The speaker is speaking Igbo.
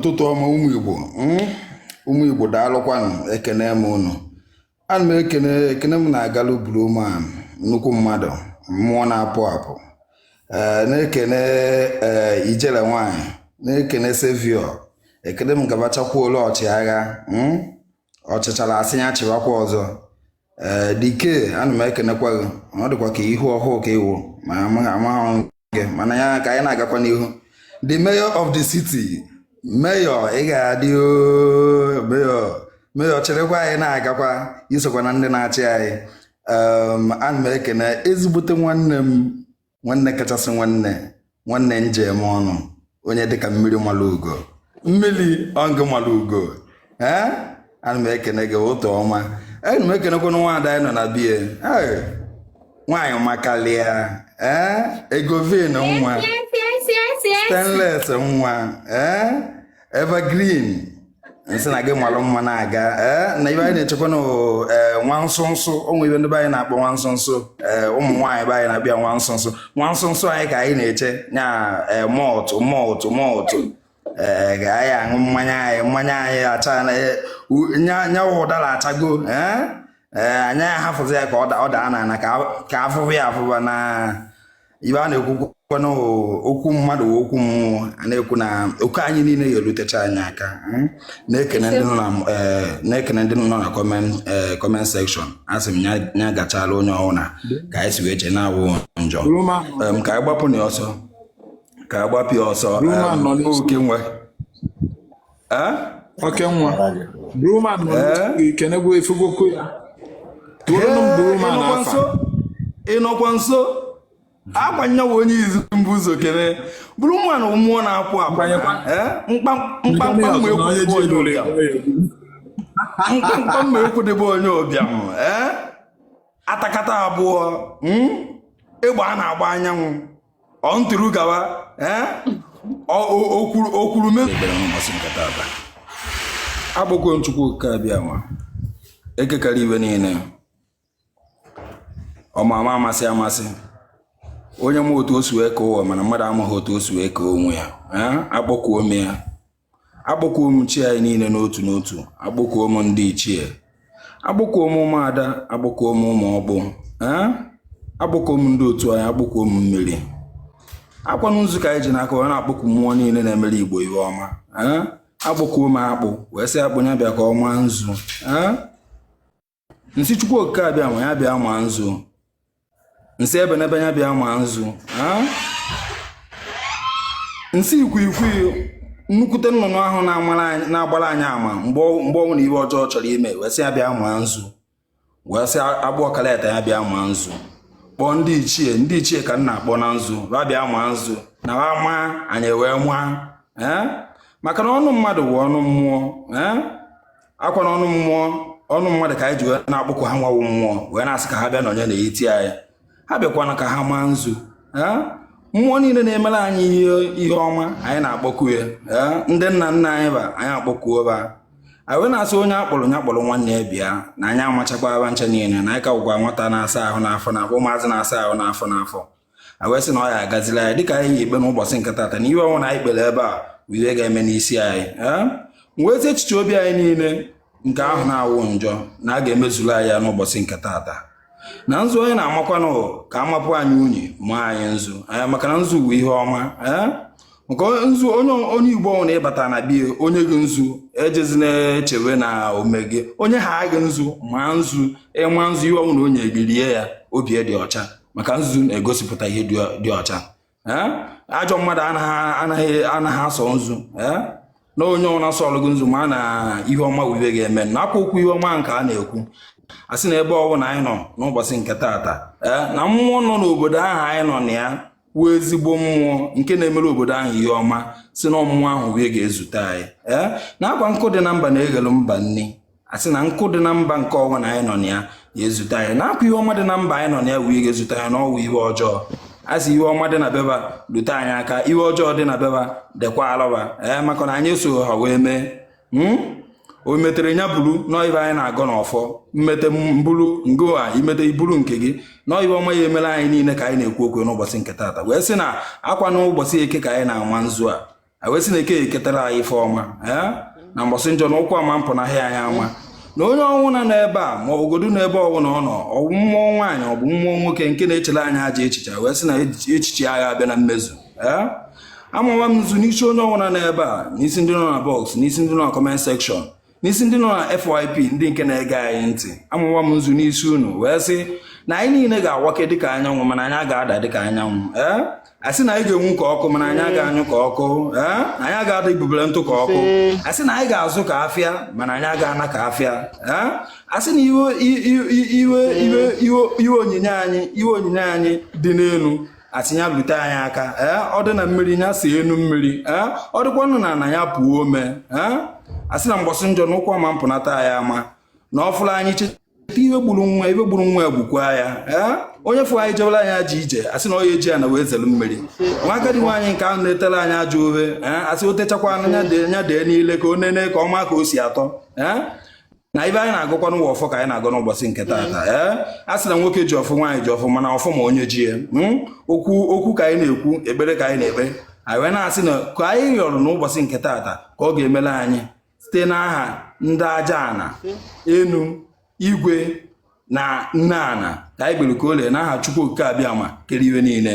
ụtụtụ ọma ụmụ Igbo hmm? ụmụ Igbo daalụkwanụ ekene m ụnụ ana m ekene ekene m na-agalụ Blueman nnukwu mmadụ mmụọ na-apụ apụ eh, na-ekene eh, ijele nwanyị na-ekene Saviour ekene m gabachakwuola ọchịagha hmm? ọchịchara a sị ya chịwakwa ọzọ ee eh, dike ana m ekenekwa gị ọ dịkwa ka ihu ọhụụ ka ị wụ ma amaghị gị mana ya ka anyị na-agakwa n'ihu the mayor of the city mayor ị ga-adị mayor mayor cherekwa anyị na-agakwa i sokwa na ndị na-achị anyị ana m ekene ezigbote nwanne m nwanne kachasị nwanne nwanne nji eme ọnụ onye dịka mmiri mara ugo mmiri ọngụ mara ugo ee ana m ekene gị ụtọ ọma ana m ekenekwanụ nwaada anyị nọ na bie nwaanyị makalịa ee egovin nwa stainless nwa ee evergreen nsị na gị malụ mma na-aga na ibe anyị na-echekwa na nwa nsụ nsụ ụmụ ibe ndị be anyị na-akpọ nwa nsụ nsụ ụmụ nwaanyị be anyị na-abịa nwa nsụ nsụ nwa nsụ nsụ anyị ka anyị na-eche nya mọtụ mọtụ mọtụ ee ga anyị aṅụ mmanya anyị mmanya anyị acha nyanwụ ụdara achago ee anyị ahafụzi ya ka ọ daa n'ala ka afụfụ ya afụba na ibe a na-ekwukwa n'okwu mmadụ wee okwu mmụọ a na-ekwu na oke anyị niile ga-erutecha anyị aka hmm? na-ekene ndị nọ na eh, na-ekene ndị nọ na comment eh, comment section a sị m ya ya gachala onye ọbụla ka anyị si wee chee na-awụ njọ Roma Em, ka anyị gbapụ na ya ọsọ ka anyị gbapụ ya ọsọ Roma em, nọ n'isi. oke nwe oke nwa Blueman kenegwu efugokwu ya tụọrọnụ m Blueman how far ị nọkwa nso agbanyewo onye izu m bu ụzọ kene Blueman mmụọ na-apụ apụ mkpamkpa mma ekwudebe onye ụbịam atakata agbụọ hmm? egbe a na-agba anyanwụ ọ ntụrụ gawa okwuru akpọkuo m Chukwu oke abịama eke kere ihe niile ọmama amasị amasị onye ma otu o si wee kee ụwa mana mmadụ amaghị otu o si wee kee onwe ya akpọkuo m ya akpọkuo m chi anyị niile n'otu n'otu akpọkuo m ndị ichie akpọkuo m ụmụada akpọkuo m ụmụ ọkpụ akpọkuo m ndị otu anyị akpọkuo m mmiri ọkwanụ nzu ka anyị ji n'aka wee na-akpọku mmụọ niile na-emere Igbo ihe ọma akpọkuo m akpụ wee sị akpụ ya bịa ka ọ maa nzu m sị chukwu okike abịama ya bịa maa nzu m sị ebe n'ebe ya bịa maa nzu m sị ikwikwii nnukwute nnụnụ ahụ na-agbara anyị ama mgbe ọwụna ive ọjọọ chọrọ ime wee sị ya bịa maa nzu wee sị agwụ ọkaleta ya bịa maa nzu kpọọ ndị ichie ndị ichie ka m na-akpọ na nzu ba bịa maa nzu na ha maa anyị wee maa maka na ọnụ mmadụ bụ ọnụ mmụọ akwa na ọnụ mmụọ ọnụ mmadụ ka anyị ji wee na-akpọku ha nwa wụ mmụọ wee na-asị ka ha bịa nọnye n'etiti anyị ha bịakwana ka ha maa nzu mmụọ niile na-emere anyị ihe ọma anyị na-akpọku ya ndị nna nna anyị ba anyị akpọkuo ba anyị wee na-asị onye a kpọrọ ya kpọrọ nwanne ya bịa na anyị amachakwa ba ncha niile na anyị ka wụkwa nwata na-asa ahụ n'afọ n'afọ ụmụazị na-asa ahụ n'afọ n'afọ a wee sị na ọ ya-agazila anyị dịka anyị ji kpee n'ụbọchị nke tata na ive ọwụna anyị kpere ebe a bụ ihe ga-eme n'isi anyị nwezi echiche obi anyị niile nke ahụ na-awụ njọ na a ga-emezuru anyị ya n'ụbọchị nke tata na nzu onye na-amakwanụ ka amapụ anyị unyi maa anyị nzu anyị maka na nzu bụ ihe ọma maka nzu onye onye igbo ọwụna ị bata na be ya o nye gị nzu ejezina echewe na o mee gị o nyeha gị nzu ma nzu ịma nzu ihe ọwụna o nye gị rie ya obi dị ọcha maka nzu na-egosipụta ihe dị ọcha ajọ mmadụ anaghị asọ nzu na onye ọwụna sọọlụ gị nzu maa na ihe ọma wụ ive ga-eme na akwa okwu ihe ọma nke a na-ekwu a sị na ebe ọbụla anyị nọ n'ụbọchị nke taata na mmụọ nọ n'obodo ahụ anyị nọ na ya wụ ezigbo mmụọ nke na-emere obodo ahụ ihe ọma sị na ọ mmụọ ahụ wee ga-ezute anyị ee na akwa nkụ dị na mba na-eghelu mba nni a sị na nkụ dị na mba nke ọwụna anyị nọ na ya ga-ezute anyị na akwa ihe ọma dị na mba anyị nọ na ya wee ga-ezute anyị na ọwụ ihe ọjọọ a sị ihe ọma dị na be ba lute anyị aka ihe ọjọọ dị na be ba dịkwaalụ ba ee maka na anyị so ha wee mee hmm? o metere nya buru na ọ ive anyị na-agọ n'ọfọ m mete m buru ngwa i mete i buru nke gị na ive ọma ya-emela anyị niile ka anyị na-ekwu okwu n'ụbọchị nke taata wee sị na akwa n'ụbọchị eke ka anyị na-ama nzu a wee sị na eke eketara anyị ife ọma na mbọsị njọ na ụkwụ ama mpụ na ahịa anyị ama na onye ọwụna nọ ebe a ma ogodu na ebe ọbụla ọ nọ ọ bụ mmụọ nwaanyị ọ bụ mmụọ nwoke nke na-echere anyị ajọ echiche wee sị na echiche aga abịa na mmezu amawa m nzu n'isi onye ọwụna nọ ebe a n'isi ndị nọ na box n'isi ndị nọ na comment section n'isi ndị nọ na FYP ndị nke na-ege anyị ntị amawa m nzu n'isi unu wee sị na anyị niile ga-awake dịka anyanwụ mana anyị aga ada dịka anyanwụ ee a sị na anyị ga-enwu ka ọkụ mana anyị aga anyụ ka ọkụ ee anyị aga ada ibubere ntụ ka ọkụ a sị na anyị ga-azụ ka afịa mana anyị aga ana ka afịa ee a sị na ive ive ive onyinye anyị dị n'elu asị ya lute anyị aka ee ọ dị na mmiri ya see enu mmiri ee ọ dịkwanụ n'ana ya pụọ ome ee asị na mgbọsị njọ na ụkwụ ama mpụnata anyị ama na ọ fụrụ anyị cheta iwe gburu nwa egbukwa ya ee onye fụrụ anyị jebela anyị ajọ ije asị na ọ ya-eji ana wee zelu mmiri nwa agadi nwaanyị nke ahụ na-etela anyị ajọ ofe ee asị o techakwa ya dee n'ile ka o nene ka ọ ma ka o si atọ ee na ive anyị na-agọkwa nụwa ọfọ ka anyị na-agọ n'ụbọchị nke taata mm. ee a sị na nwoke ji ọfọ nwaanyị ji ọfọ mana ọfọ ma onye ji ya mm. okwu ka anyị na-ekwu ekpere ka anyị na-ekpe anyị wee na-asị na ka anyị rịọrọ n'ụbọchị nke taata ka ọ ga-emela anyị site n'aha ndị aja ana enu igwe na nne ana ka anyị kpere ka o lee n'aha Chukwu Okike Abịama kere ive niile